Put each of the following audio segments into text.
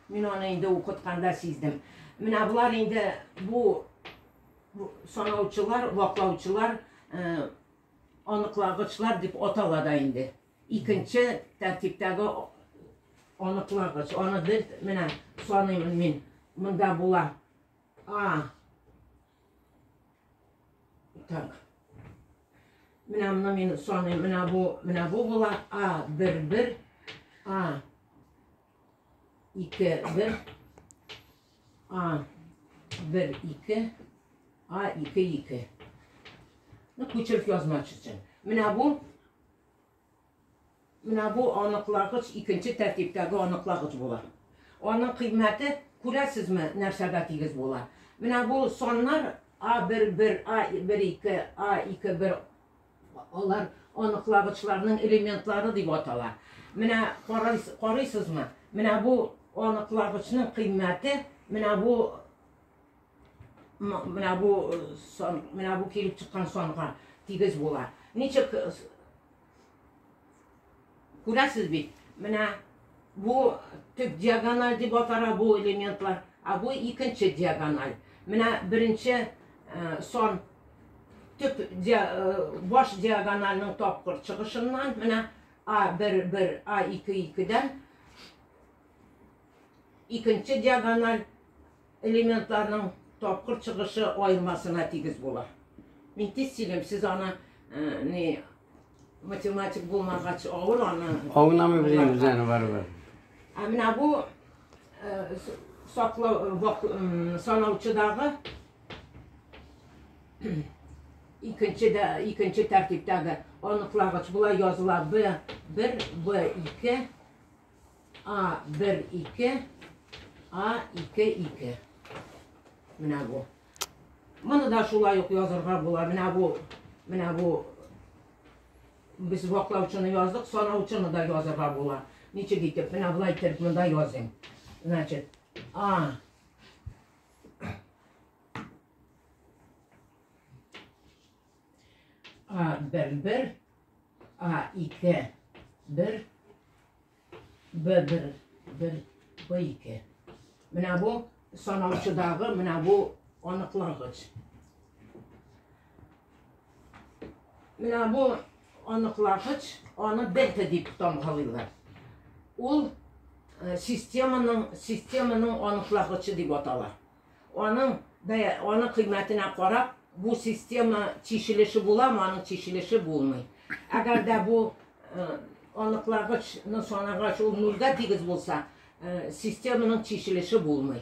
Мин аны инде укытканда сиздем. Менә болар инде бу санаучылар, ваклаучылар, э, аныклагычлар дип атала да инде. Икенче тәртиптәге аныклагыч. Аны бер менә саныймын мин. Монда була А, Так. Менә моны мин саныйм. Менә бу, менә бу була. А, бер, бер. А, ике, бер. А, бер, ике. А, ике, ике. Ну, күчеріп язмакшы өчен. Менә бу Менә бу аныклагыч икенче тәртиптәге аныклагыч була. Аның кыйммәте, күрәсезме, нәрсәгә тигез була? Менә бу саннар А-бер, бер, А-бер, ике, А-ике, бер, алар аныклагычларның элементлары дип атала. Менә карыйсызмы? Менә бу аныклагычның кыйммәте, менә бу Менә бу э, сон, менә бу килеп чыккан санга тигез була. Ничек э, күрәсез бит? Менә бу төп диагональ дип атара бу элементлар, а бу икенче диагональ. Менә беренче э, сон төп баш диагональның тапкыр чыгышыннан менә А1 1 А2 2-дән икенче диагональ элементларның тапкыр чыгышы аермасына тигез була. Мин тиз сөйлим, сез аны э, не математик булмагач авыр аны. Аңламый белән үзен барыбер. Ә менә бу э, саклау э, санаучыдагы икенче дә икенче тәртиптәге аныклагыч була языла б бер б ике А, бер, ике. А, ике, ике. Менә бу. Моны да шулай ук язырга була. Менә бу, менә бу без ваклаучыны яздык, санаучыны да язырга була. Ничек итеп? Менә болай итеп монда языйм. Значит, А. А бер бер, А ике бер, Б бер бер, Б ике. Менә бу санаучыдагы менә бу аныклагыч. Менә бу аныклагыч, аны бета дип тамгалыйлар. Ул системаның системаның аныклагычы дип атала. Аның бәя, аның кыйммәтенә карап, бу система чишелеше буламы, аның чишелеше булмый. Әгәр дә бу э, аныклагычны санагач ул нулгә тигез булса, э, системаның чишелеше булмый.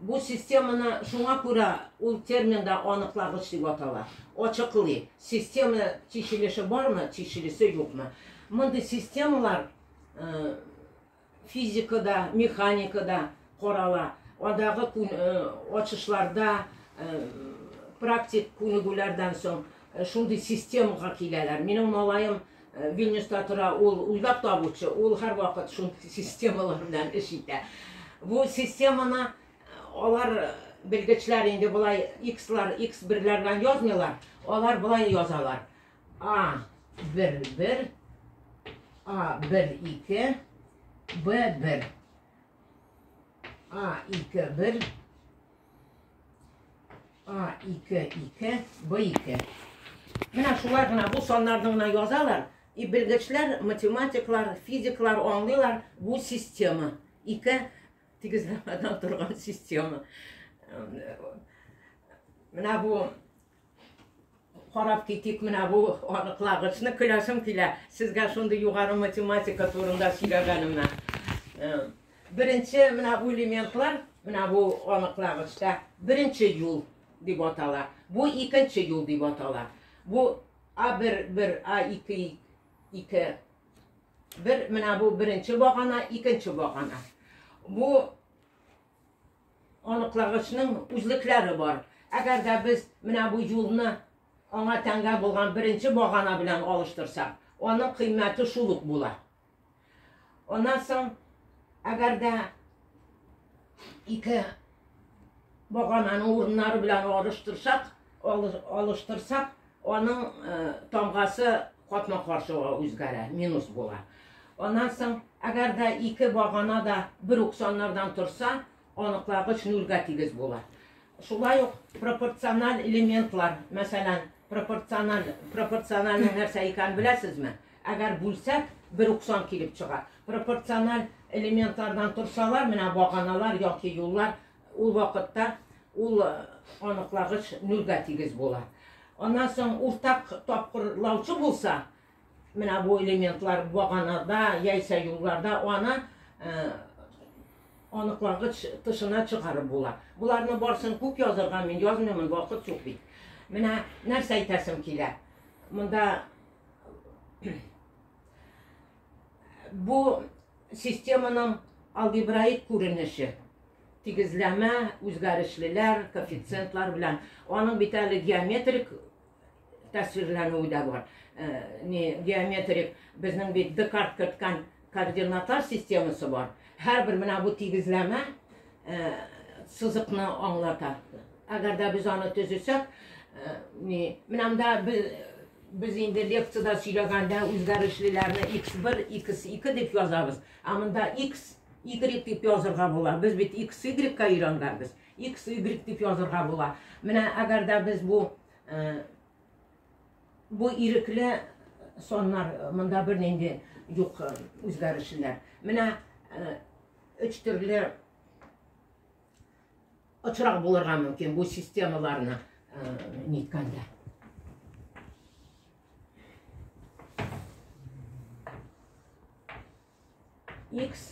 Бу системаны шуңа күрә ул терминда аныклагыч дип атала. Ачыклый, система чишелеше бармы, чишелеше юкмы. Мондый системалар э, физикада, механикада карала, андагы ачышларда практик күнегүләрдән соң шундый системага киләләр. Минем малаем Вильнюста тора, ул уйлап табучы, ул һәрвакыт шундый системалар белән эш итә. Бу системаны алар белгечләр инде болай X-лар, X-берләр белән язмыйлар, алар болай язалар. А бер бер, А бер ике, Б бер. А ике бер, А ике ике, Б ике. Менә шулар гына бу саннарны гына язалар. И белгечләр, математиклар, физиклар аңлыйлар бу система. Ике тигезләмәдән торган система. Менә бу Карап китик менә бу аныклагычны. Көләсем килә. Сезгә шундый югары математика турында сөйләгәнемә. Беренче менә бу элементлар, менә бу аныклагычта беренче юл дип атала. Бу икенче юл дип атала. Бу А1, 1, А2, 2. Бер менә бу беренче багана, икенче багана. Бу Аныклагычның үзлекләре бар. Әгәр дә без менә бу юлны аңа тәңгә булган беренче багана белән алыштырсак, аның кыйммәте шул ук була. Аннан соң, әгәр дә ике багананың урыннары белән алыштырсак, алыштырсак, Аның тамгасы капма-каршыга үзгәрә, минус була. Аннан соң, әгәр дә ике багана да бер үк саннардан торса, аныклагыч нульгә тигез була. Шулай ук пропорциональ элементлар, мәсәлән, пропорциональ пропорциональның нәрсә икәнен беләсезме? Әгәр бүлсәк, бер үк сан килеп чыга. Пропорциональ элементлардан торсалар, менә баганалар яки юллар Ул вакытта ул аныклагыч нөлгә тигез була. Аннан соң уртак тапкырлаучы булса, менә бу элементлар баганада яисә юлларда аны аныклагыч тышына чыгарып була. Боларны барсын күп язырга мин язмыймын, вакыт юк бит. Менә нәрсә әйтәсем килә. Монда бу системаның алгебраик күренеше тигезләмә, үзгәрешлеләр, коэффициентлар белән. Аның бит әле геометрик тәсвирләнүе дә бар. Э, не геометрик безнең бит Декарт керткән координатар системасы бар. Һәрбер менә бу тигезләмә сызыкны аңлата. Әгәр дә без аны төзесәк, ни, менә монда без без инде лекцияда сөйләгәндә үзгәрешлеләрне x1, x2 дип язабыз. Ә монда x, y дип язырга була. Без бит x, y-ка өйрәнгәнбез. x, y дип язырга була. Менә әгәр дә без бу бу ирекле соннар монда бернинди юк үзгәрешлеләр. Менә Өч төрле очрак булырга мөмкин бу системаларны ниткәндә. X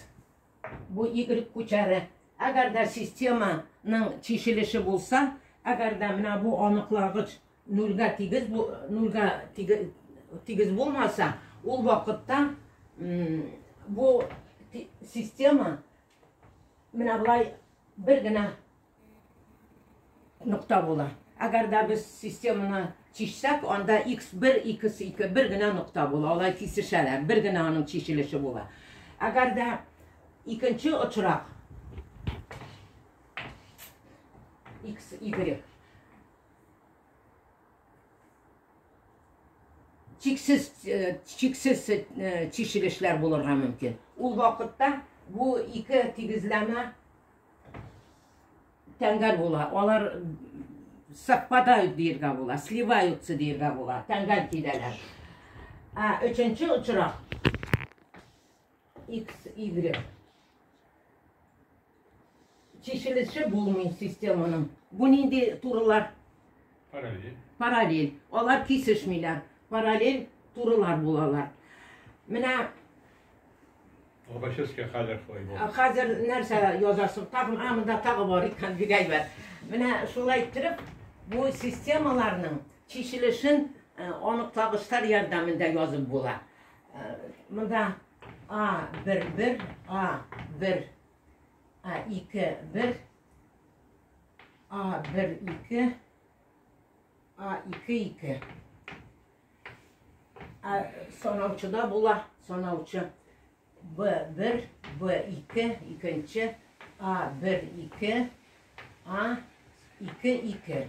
бу Y күчәре. Әгәр дә системаның чишелеше булса, әгәр дә менә бу аныкларгыч Нульга тигез, нульга тигез булмаса, ул вакытта бу система менә былай бер генә нокта була. Әгәр дә без системаны чишсәк, анда x1, x2 бер генә нокта була. Алай кисешәләр, бер генә аның чишелеше була. Әгәр дә икенче очрак x, y чиксез чиксез чишелешләр булырга мөмкин. Ул вакытта бу ике тигезләмә тәңгәл була. Алар совпадают диергә була, сливаются диергә була, тәңгәл киләләр. Ә өченче очрак X, Y. Чишелеше булмый системаның. Бу нинди турылар? Параллель. Параллель. Алар кисешмиләр. Параллель турылар булалар. Менә Обаческая хәзер шулай булды. Хәзер нәрсә язасың? Тагын а монда тагы бар икән бик әйбәт. Менә шулай иттереп бу системаларның чишелешен э, анык табыштар ярдәмендә язып була. Монда А бер бер, А бер, А ике бер, А бер ике, А ике ике. Ә санаучыда була, санаучы. Б бер, Б ике, икенче, А бер ике, А ике ике.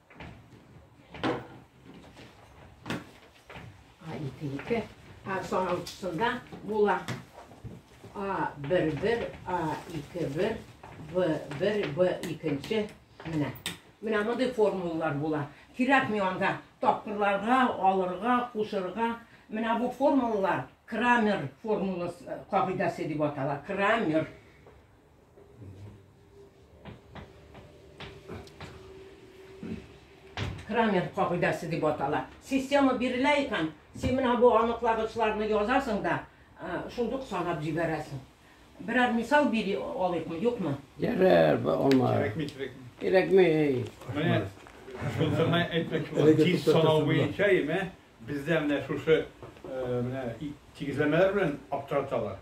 Ике-ике. Соңгысында була. А, бер-бер, А, ике-бер, Б-бер, Б-икенче. Менә. Менә мондый формулалар була. Кирәк ми анда тапкырларга, алырга, кушырга. Менә бу формулалар Крамер формуласы, кагыйдәсе дип атала. Крамер. Крамен кагыйдәсе дип атала. Система бирелә икән, син менә бу аныклагычларны язасың да, шундук санап җибәрәсең. Берәр мисал бери алыйкмы, юкмы? Ярар, алма. Кирәкми, кирәкми. Кирәкми. Менә шуны әйтмәк, тиз санау буенча имә, бездә менә шушы менә тигезләмәләр белән аптыраталар.